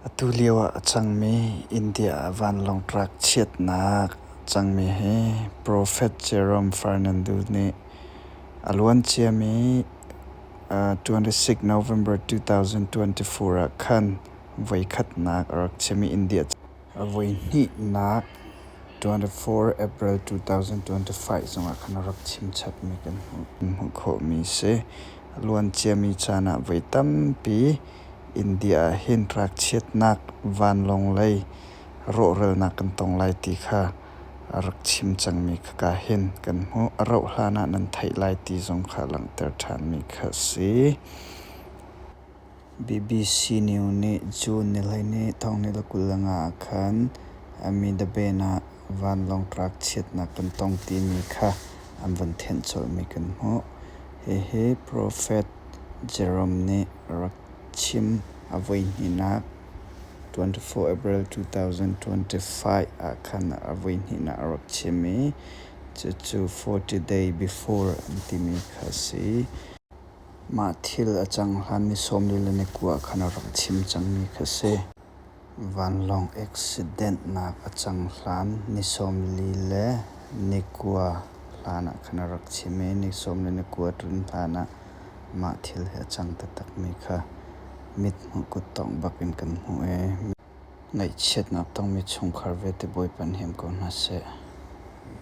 Atu lio ah a cangmi India ah vanlawng truck chiatnak a cangmi hi Prophet Jerome Fernandez nih a luanciami twenty-six November two thousand twenty-four ah khan voikhatnak a rak chim i India. A voihnihnak 24 April 2025 zongah khan a rak chimchatmi kan hmuh khawhmi a si. A luanciami caan ah voi tampi India ah hin rak chiatnak vanlawng lei rawhralnak kan tong lai ti kha a rak chim cangmi khaka hin kan hmuh. A rauhhlan ah nan theih lai ti zong kha langhter ṭhanmi kha a si. BBC News nih June ni hleihnih thawnghnihla kul leng ah khan Amitabhen ah vanlawng truck chiatnak kan tong timi kha an van thenh colhmi kan hmuh. Hihi Prophet Jerome nih a rak chim. A voihnihnak 24 April 2025 ah khan a voihnihnak a rak chim i cucu 40 Day Before an timi kha a si. Mah thil a cang hlanmi sawmlila na kua ah khan a rak chim cangmi kha si. Vanlawng accident-nak a cang hlan ni sawmli le ni kua hlanah khan a rak chim i ni sawm le ni kua a tlun hlanah mah thil hi a cang taktakmi kha mithmuh kut tawng bakin kan hmuh i ngaihchiatnak tongmi chungkhar vialte Bawipa nih him ko hna seh.